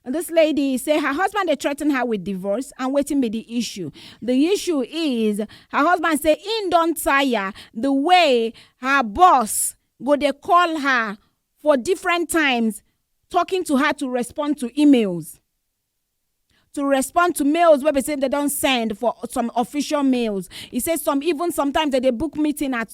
This lady say her husband dey threaten her with divorce and wetin be the issue? The issue is her husband say im don tire the way her boss go dey call her for different times talking to her to respond to emails. to respond to mails wey be say dem don send for some official mails e say some even sometimes dem dey book meeting at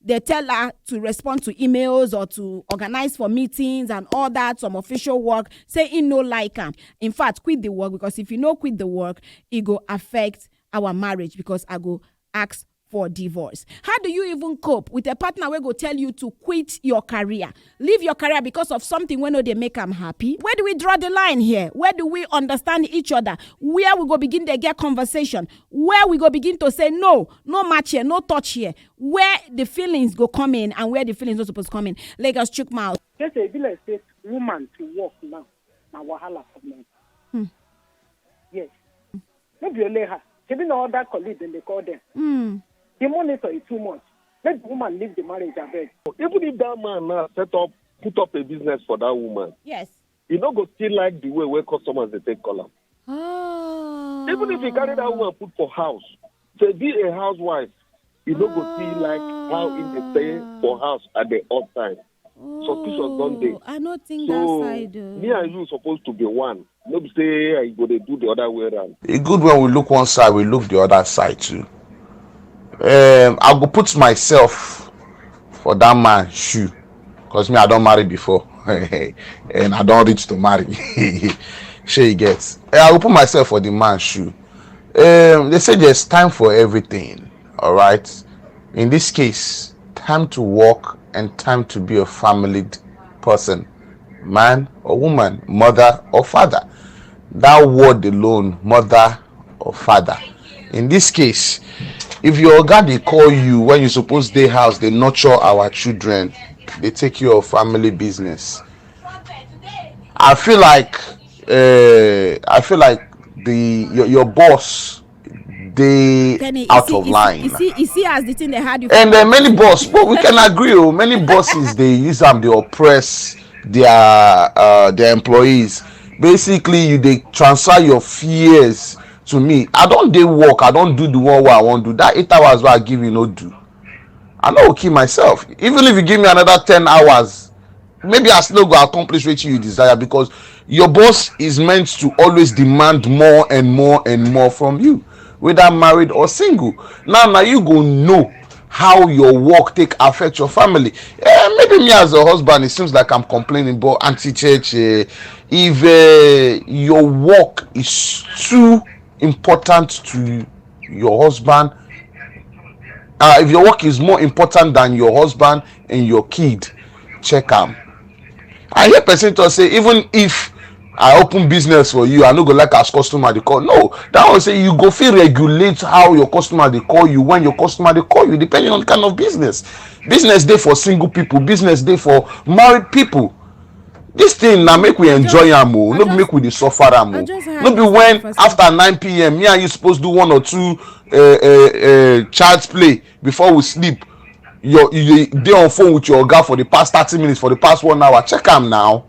They tell her to respond to emails or to organize for meetings and all that, some official work, say he no like am. In fact, quit the work because if you no quit the work, it go affect our marriage because I go ask for divorce. How do you even cope with a partner wey go tell you to quit your career, leave your career because of something wey no dey make am happy? Where do we draw the line here? Where do we understand each other? Where we go begin dey get conversation? Where we go begin to say no, no match here, no touch here? where the feelings go come in and where the feelings no suppose come in lagos chook mouth. just say e be like say woman to work now na wahala for men. Hmm. yes no be only her shebi na other colleague dem dey call dem. Hmm. the monitor is too much make the woman leave the marriage abeg. even if that man now set up put up a business for that woman. yes. you no go still like the way where customers they take call am. Ah. Even if you carry that woman put for house, to be a housewife, you no go see like how in the stay for house at the odd time. Oh, Suspicious don't they? I don't think so, that side. Uh... Me and you supposed to be one. No be say I go they do the other way around. It's e good when we look one side, we look the other side too. Um, I go put myself for that man shoe. cause me i don marry before and i don reach to marry shey you get eh, i go put myself for the man shoe um, they say there's time for everything all right in this case time to work and time to be a family person man or woman mother or father that word alone mother or father in this case if your oga dey call you when you suppose dey house dey nurture our children dey take care of family business i feel like uh, i feel like the your, your boss dey out of line. you see you see as the thing dey hard you. and uh, many boss but we can agree o oh, many bosses dey use am dey oppress their uh, their employees basically you dey transfer your fears to me i don dey work i don do the one wey i wan do that eight hours wey i give you no do i no go kill myself even if you give me another ten hours maybe i still no go accomplish wetin you desire because your boss is meant to always demand more and more and more from you whether married or single now now you go know how your work take affect your family eh, maybe me as a husband it seems like i'm complaining but auntie church eh, if uh, your work is too important to your husband uh, if your work is more important than your husband and your kid check am i hear person talk say even if i open business for you i no go like as customer dey call no that one say you go fit regulate how your customer dey call you when your customer dey call you depending on the kind of business business dey for single people business dey for married people this thing na make we enjoy am o oh. no be make we dey suffer am o oh. no be when after 9pm me and you suppose do one or two uh, uh, uh, child's play before we sleep your you dey on phone with your oga for the past thirty minutes for the past one hour check am now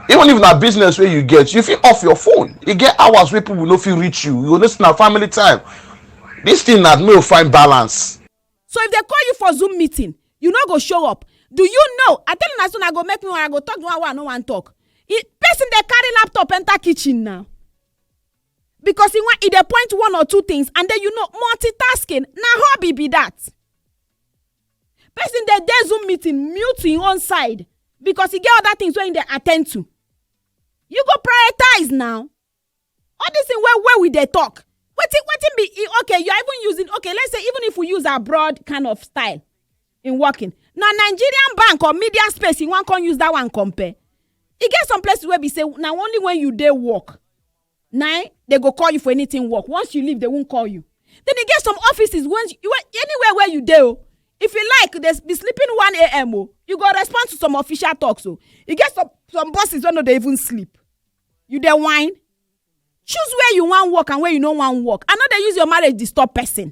even if na business wey you get you fit off your phone e get hours wey people no fit reach you you go know say na family time this thing na no find balance. so if dem call you for zoom meeting you no go show up do you know i tell una so una go make me una go talk the one wey i no wan talk person dey carry laptop enter kitchen now because e wan e dey point one or two things and then you know multitasking na hobby be that person dey dey zoom meeting mute im own side because e get other things wey im dey attend to you go prioritize now all this thing wey wey we dey talk wetin wetin be e okay you are even using okay let's say even if we use abroad kind of style in working na nigerian bank or media space you wan come use that one compare e get some places wey be say na only when you dey work na im dey go call you for anything work once you leave they won't call you then e get some offices when you wey- anywhere where you dey o if you like dey be sleeping one am o you go respond to some official talks o e get some some bosses wey no dey even sleep you dey whine choose where you wan work and where you no wan work and no dey use your marriage disturb person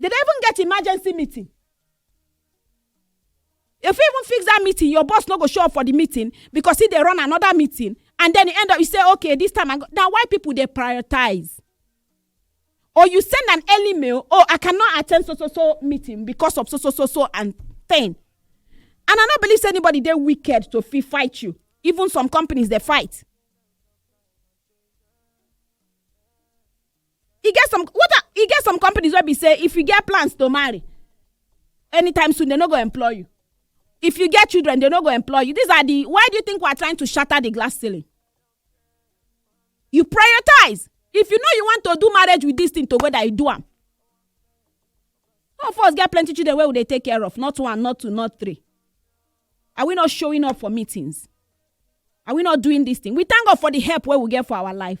They dey even get emergency meeting. You fit even fix that meeting, your boss no go show up for the meeting because he dey run another meeting and then you end up you say okay this time I go na why people dey prioritize. Or you send an early mail, oh I cannot attend so so so meeting because of so so so so and thing. And I no believe say anybody dey wicked to fit fight you. Even some companies dey fight. e get some what are, e get some companies wey be say if you get plans to marry anytime soon they no go employ you if you get children they no go employ you these are the why do you think we are trying to shatter the glass ceiling you prioritize if you know you want to do marriage with this thing together you do am all of us get plenty children wey we dey take care of not one not two not three are we not showing up for meetings are we not doing this thing we thank god for the help wey we get for our life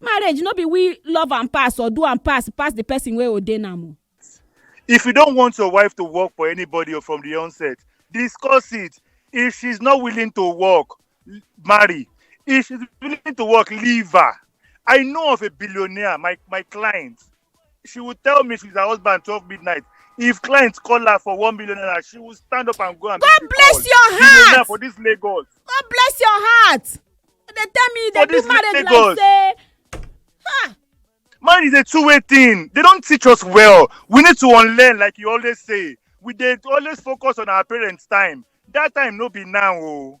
marriage no be we love and pass or do and pass pass the person wey ordain am o. if you don't want your wife to work for anybody or from the onset discuss it if she's not willing to work marry if she's willing to work leave her i know of a billionaire my my client she will tell me she's her husband twelve midnight if clients call her for one million naira she will stand up and go and god bless your heart for this lagos god bless your heart they tell me they do marriage lagos. like say ha. man is a two-way thing they don't teach us well we need to unlearn like you always say we dey always focus on our parents time that time no be now o. Oh.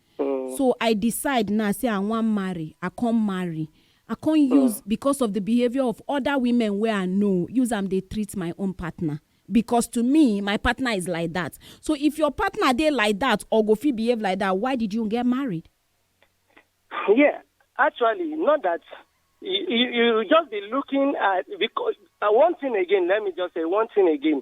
Mm. So I decide now say I wan marry, I come marry. I come use because of the behavior of other women wey I know, use am dey treat my own partner. Because to me, my partner is like that. So if your partner dey like that or go fit behave like that, why did you get married? Yeah, actually, not that you, you, you just be looking at because uh, one thing again. Let me just say one thing again.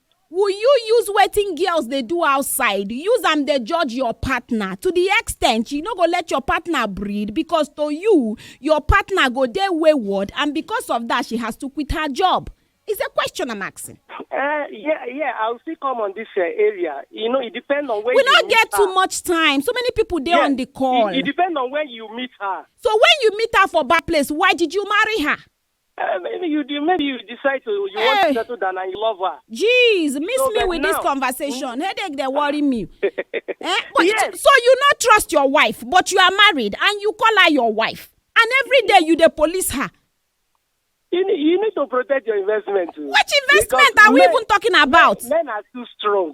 Will you use wetin girls dey do outside use am dey judge your partner to the extent you no go let your partner breathe because to you your partner go dey wayward and because of that she has to quit her job is a question i'm asking Uh, yeah, yeah, I'll still come on this uh, area. You know, it depends on where we you no meet get her. too much time so many people dey Yeah, on the call It, it depends on where you meet her. so when you meet her for bad place why did you marry her Um, maybe you de- maybe you decide to you want Hey. to settle down and you love her. jeez miss No, me but with this now- conversation headache dey worry me eh? but Yes. so, so you no trust your wife but you are married and you call her your wife and every day you dey police her You need, you need to protect your investment. too. which investment Because are we men- even talking about Men are too strong.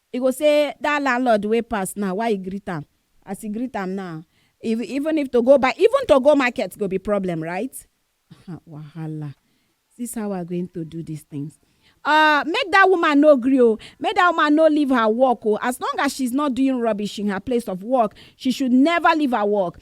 I go say that landlord wey pass now why i greet am as i greet am now if even if to go buy even to go market go be problem right ha wahala this how i going to do this things Uh, make that woman no gree o make that woman no leave her work o as long as she's not doing rubbish in her place of work she should never leave her work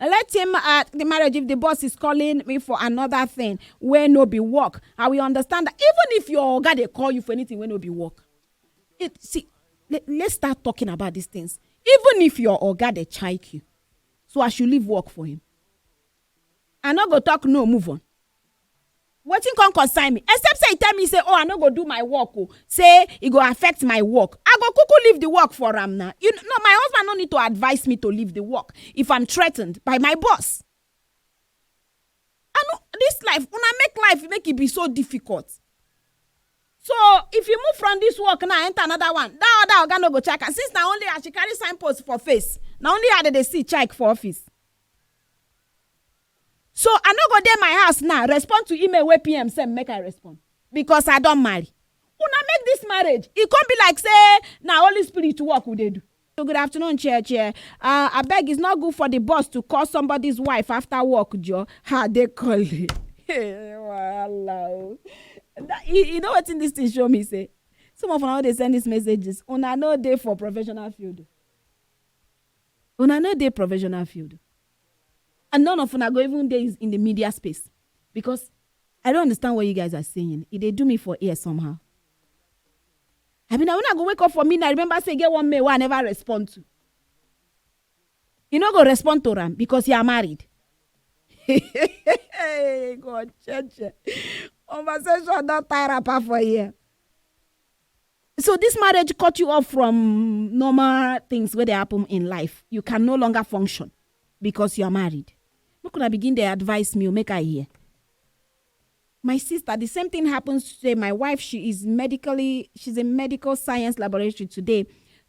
let him uh, the marriage if the boss is calling me for another thing where no be work i will understand that even if your guy they call you for anything where no be work it see let, us start talking about these things even if your oga they chike you so i should leave work for him i not go talk no move on wetin come concern me except say e tell me say oh i no go do my work oh say e go affect my work i go kuku leave the work for am na you no my husband no need to advise me to leave the work if i'm threatened by my boss i no this life una make life make e be so difficult so if you move from this work now enter another one that other oga no go check am since na only her she carry signpost for face na only her dey dey see check for office so i no go dey my house now respond to email wey pm send make i respond because i don marry una make this marriage e come be like say na holy spirit work we dey do. good afternoon chair chair uh, abeg it's not good for the boss to call somebody's wife after work jo ha dey call you wahala o you know wetin this thing show me say some of una dey send these messages una no dey for professional field una no dey professional field and none of una go even dey in the media space because I don't understand what you guys are saying. It they do me for ear somehow. I mean, I when I go wake up for midnight, remember say get one mail I never respond to. You no go respond to Ram because you are married. God, church. Conversation don't tie wrapper for here. so this marriage cut you off from normal things where they happen in life you can no longer function because you are married make una begin dey advise me o make i hear my sister the same thing happens today my wife she is medically she's in medical science laboratory today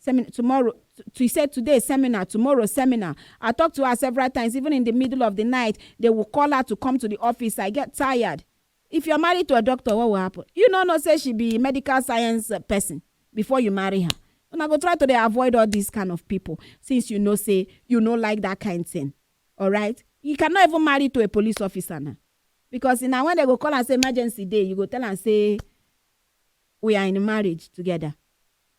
semin tomorrow she said today seminar tomorrow seminar i talked to her several times even in the middle of the night they will call her to come to the office i get tired If you're married to a doctor, what will happen? You no know say she be medical science uh, person before you marry her. Una go try to dey avoid all these kind of people since you know say you no like that kind thing. All right? You cannot even marry to a police officer now. Because now when they go call and say emergency day, you go tell and say we are in marriage together.